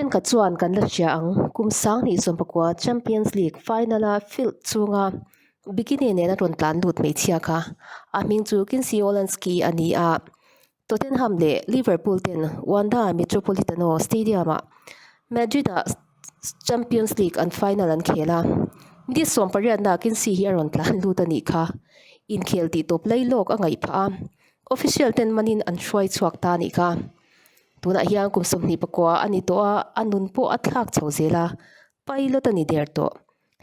Thenkhat chuan kan la hria ang, kum sang hnih sawm pakua Champions League final a field chhunga bikini nena rawn tlan lut hmeichhia kha a hming chu Kinsey Wolanski a ni a. Tottenham leh Liverpool ten Wanda Metropolitano Stadium-ah Madrid-a Champions League an final an khel a, Madrid sawm pariat nakin si hi a rawn tlan lut a nih kha inkhel tih tawp lei lawk a ngaih phah a, official ten manin an hruai chhuak ta a nih kha. Tunah hian kum sawmhnih pakua a ni tawh a, a nun pawh a thlak chho zel a, pilot a ni der tawh.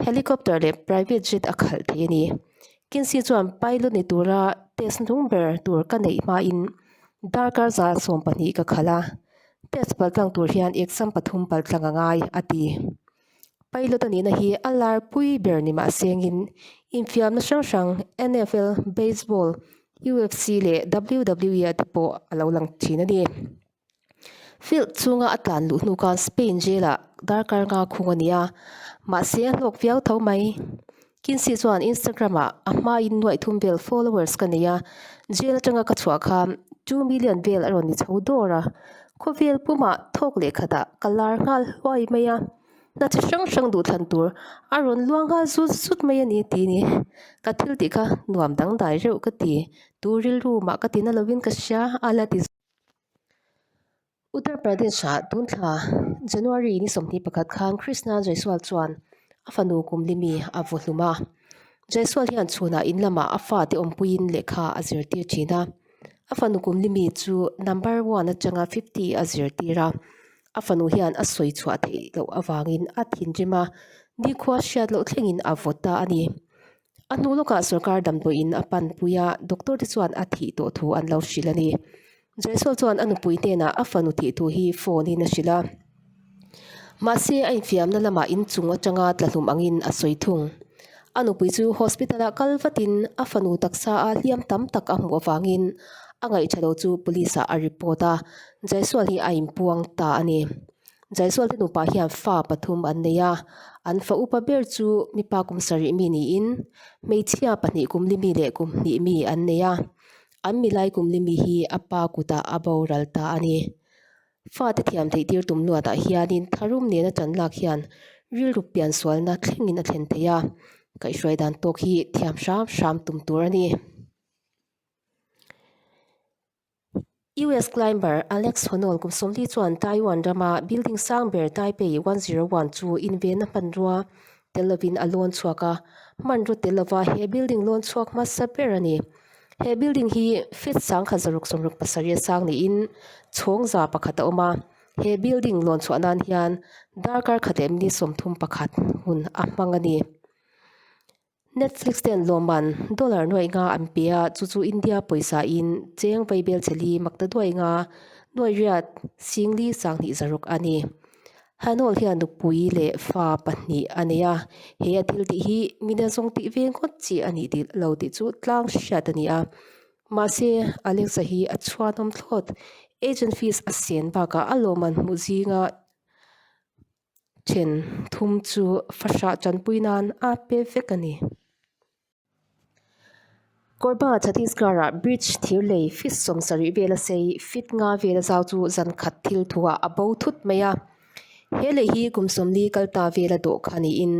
Helicopter leh private jet a khalh theih a ni. Kinsi chuan pilot ni tura test nung ber tur ka neih hmain darkar za sawm pahnih ka khalh a, test pal tlang tur hian exam pathum pal tlang a ngai, a ti. Pilot a nihna hi a lar pui ber ni mah sengin infiamna hrang hrang NFL, Baseball, UFC leh WWE-a te pawh a lo lang thin a ni. Field chhunga a tlan luh hnu khan Spain jelah darkar nga khung a ni a, mahse a hlawk viau tho mai. Kinsey chuan Instagram-ah a hmain nuaih thum vel followers ka nei a, jail atanga ka chhuah khan two million vel a rawn ni chho dawr a. Khawvel puma thawk lehkhatah ka lar nghal huai mai a, hna chi hrang hrang duh thlan tur a rawn luang nghal zut zut mai a ni tih ni. Ka thil tih kha nuam dangdai reuh ka ti, tu rilru mah ka ti na lovin ka hria a la ti zui. Uttar Pradesh-ah tun thla January ni sawmhnih pakhat khan Krishna Jaiswal chuan a fanu kum limi a vaw hlum a. Jaiswal hian chhunah in lamah a fate awmpuiin lehkha a zirtir thin a. A fanu kum limi chu number one atanga fifty a zirtir a. A fanu hian a sawi chhuah theih loh avangin a thinrim a, nikhua hriat loh thlengin a vawt ta a ni. A hnu lawkah sorkar damdawiin a panpui a, doctor te chuan a thih tawh thu an lo hrilh a ni. Jaiswal chuan a nupui hnenah a fanu thih thu hi phone in a hrilh a. Mahse, a infiamna lamah inchung atanga tlahlum angin a sawi thung. A nupui chu hospital ah kal vatin a fanu taksa a hliam tam tak a hmuh avangin a ngaihṭha lo chu police ah a report a, Jaiswal hi a inpuang ta a ni. Jaisualte nupa hian fa pathum an nei a, an fa upa ber chu mipa kum sarih mi niin hmeichhia pahnih kum li mi leh kum hnih mi an nei a, an milai kum li mi hi a pa kuta a boral ta a ni. Fate thiam theih tir tum luatah hianin tharum nena tan lak hian rilru pian sualna thlengin a thlen thei a, kaihhruai dan tawk hi thiam hram hram tum tur a ni. US climber Alex Honnold kum sawmli chuan Taiwan rama building sang ber Taipei one zero one chu invena hmanrua te lovin a lawn chhuak a. Hmanraw te lova he building lawn chhuak hmasa ber a ni. He building hi feet sangkhat zaruk sawmruk pasarih a sang niin chhawng za pakhat a awm a. He building lawn chhuah nan hian darkar khat leh minute sawmthum pakhat hun a hmang a ni. Netflix te an lawm an, dollar nuaih nga an pe a, chu chu India pawisa in cheng vei bel che li, mak ta duai nga nuaih riat sing li sang hnih za rawk a ni. Hanawl hian nupui leh fa pahnih a nei a, he a thil tih hi min a zawng tih ve ngawt chi a nih tih lo tih chu tlang hriat a ni a. Mahse, Alexa hi a chhuanawm thlawt, agent fees a sen bakah a lawm an hmuh zing a, Chen thum chu fahrah chanpui nan a pe vek a ni. Korba Chhattisgarh-a bridge thir lei feet sawm sarih vela sei feet nga vela zau chu zan khat thil thuah a bo thut mai a. He lei hi kum sawmli kal ta vela dawh kha niin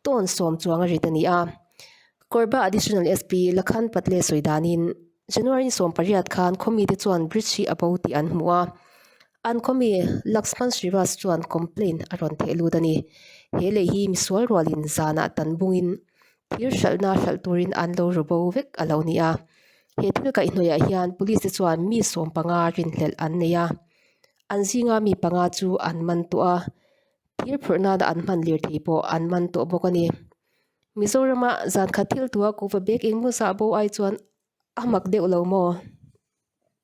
tawn sawm chuang a rit a ni a. Korba Additional SP Lakhan Patle sawi danin January sawm pariat khan khawmite chuan bridge hi a bo tih an hmu a. An khawmi Laxman Sriwas chuan complain a rawn theih lut a ni. He lei hi misual rualin zanah tan bungin thir hralhna hralh turin an lo ru bo vek a lo ni a. He thil kaih hnuaiah hian police te chuan mi sawm panga rinhlelh an nei a, an zinga mi panga chu an man tawh a, thir phurh nana an hman lirthei pawh an man tawh bawk a ni. Mizorama zankhat thiltua Kuva Bek Ingmusa bo ai chuan a hmak deuh lo maw?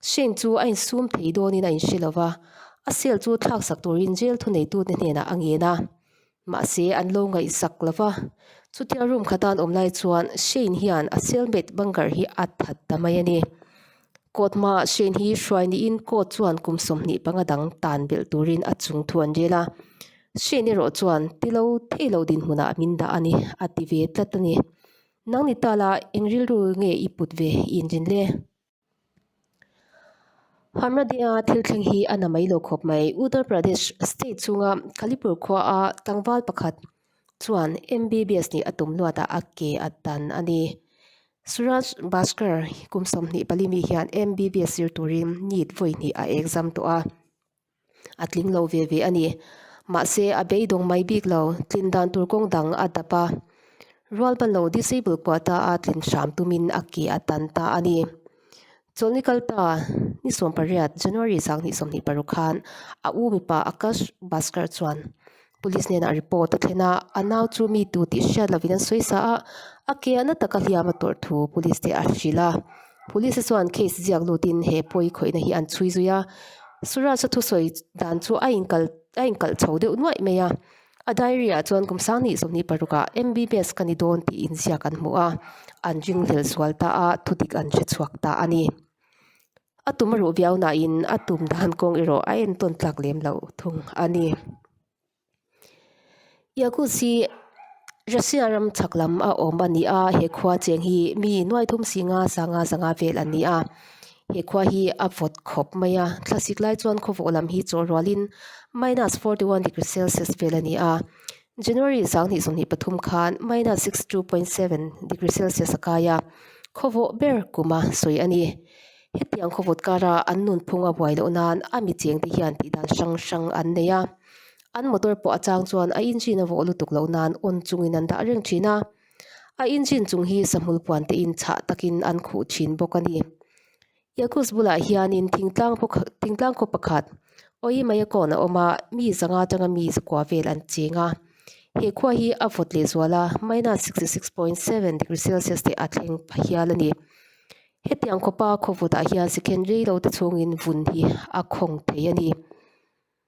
Shane chu a insum thei dawnin a inhre lo va, a cell chu thlaksak tur inzel thu neitute hnenah a ngen a. Mahse, an lo ngaihsak lo va. Chutia room kha tan awm lai chuan Shane hian a cellmate Bangar hi a that ta mai a ni. Court hmaah Shane hi hruai niin court chuan kum sawmhnih panga dang tan belh turin a chung thu an rel a. Shane erawh chuan ti lo thei lo dinhmunah a min dah a ni, a ti ve tlat a ni. Nang ni ta la, eng rilru nge i put ve i inrin le? Hamradinga thil thleng hi a na mai lo khawp mai. Uttar Pradesh state chunga Kalipur khuaa tlangval pakhat chuan MBBS nih a tum luata a ke a tan a ni. Suraj Bhaskar kum sawmhnih pali mi hian MBBS zir turin NEET vawi hnih a exam tawh a. a tling lo ve ve a ni. Mahse, a beidawng mai bik lo, tlin dan tur kawng dang a dap a. Rualpa lo disable kuah ta a tling hram tumin a ke a tan ta a ni. Chawlhni kal ta ni sawmpariat, January sang ni sawmhnih paruk khan a u mipa Akash Bhaskar chuan Police hnenah report a thlen a, a nau chu mi tu tih hriat lovin an sawi sa a, a ke a na taka hliam a tawrh thu Police te a hrilh a. Police-a chuan case ziak lutin he pawi khawihna hi an chhui zui a. Suraj-a thusawi dan chu a inkal a inkalh chho deuh nuaih mai a. A diary-ah chuan kum sang ni zawk ni parukah MBBS ka ni dawn tiin ziak an hmu a, an ring hlel sual ta a, thudik an hre chhuak ta a ni. A tum ruh viau nain a tum dan kawng erawh a entawn tlak lem lo thung a ni. Yakutsk hi Russia ram chhak lam a awm a ni a, he khua chiang hi mi nuai thum singa sanga zanga vel a ni a. He khua hi a vawt khawp mai a, thlasik lai chuan khawvawh lam hi chawlh rualin minus forty one degree celsius vel a ni a. January sang hnih sawmhnih pathum khan minus sixty two point seven degree celsius a kai a, khawvawh ber kum a sawi a ni. Hetiang khawvawt kara an nunphung a buai loh nan a mi chengte hian tih dan hrang hrang an nei a. An motor pawh a chang chuan a engine a vawh lutuk loh nan awn chungin an dah reng thin a. A engine chung hi sahmul puan tein chhah takin an khuh thin bawk a ni. Yakults bulah hianin thingtlang paw khat thingtlang khaw pakhat awi mai a kawn a awm a mi sanga atanga mi zakua vel an cheng a he khua hi a vawt leh zual a minus sixty six point seven degree celsius teh a thleng pha hial a ni hetiang khawpa khaw vawtah hian second reilo te chhungin vun hi a khawng thei a ni.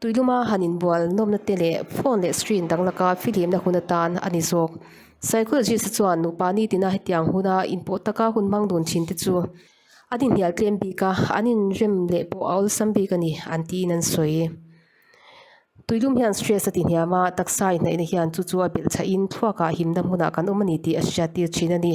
Tuiluma han inbual nawmna te leh phone leh screen dang laka filimna hun atan a ni zawk. Psychologist-a chuan nupa nitina hetiang huna inpawh taka hun hmang dun thin te chu an inhnial tlem bik a, an inrem leh pawh a awlsam bik a ni, an tiin an sawi. Tuilum hian stress a tihniam a, taksa inhnaihna hian chu chu a belh chhahin thluakah himna hmunah kan awm a ni tih a hriattir thin a ni.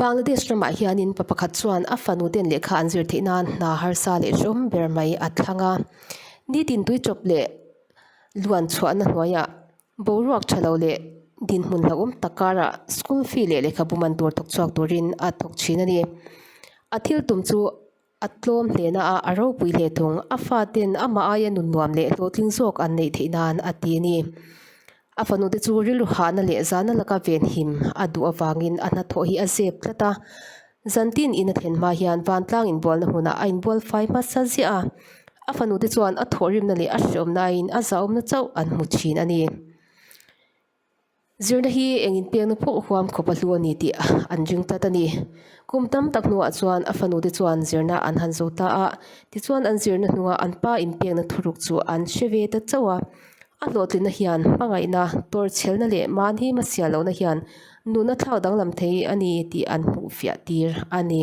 Bangladesh ramah hianin pa pakhat chuan a fanu ten lehkha an zir theih nan hna harsa leh hrawm ber mai a thlang a. Ni tintui chawp leh luan chhuahna hnuaiah boruak tha lo leh dinhmun hlauhawm tak karah school fee leh lehkhabu man tur thawk chhuak turin a thawk thin a ni. A thil tum chu-- A tlawm hle na a, a ropui hle thung. A faten amah aia nunnuam leh hlawhtling zawk an neih theih nan a ti a ni. A fanute chu rilru hahna leh zana laka venhim a duh avangin a hnathawh hi a zep tlat a. Zantin in a thlen hma hian vantlang inbualna hmunah a inbual fai hmasa ziah a. A fanute chuan a thawhrimna leh a hrehawmna aiin a zahawmna chauh an hmu thin a ni. Zirna hi eng in pekna phawh huam khawp a hlu a ni tih an ring tlat a ni. Kum tam tak hnuah chuan a fanu te chuan zirna an han zo ta a, tichuan an zirna hnunga an pa in pekna thuruk chu an hre ve ta chauh a. A hlawhtlinna hian hmangaihna, tawrhchelhna leh mahni hmasial lohna hian nuna thlak danglam thei a ni tih an hmuh fiah tir a ni.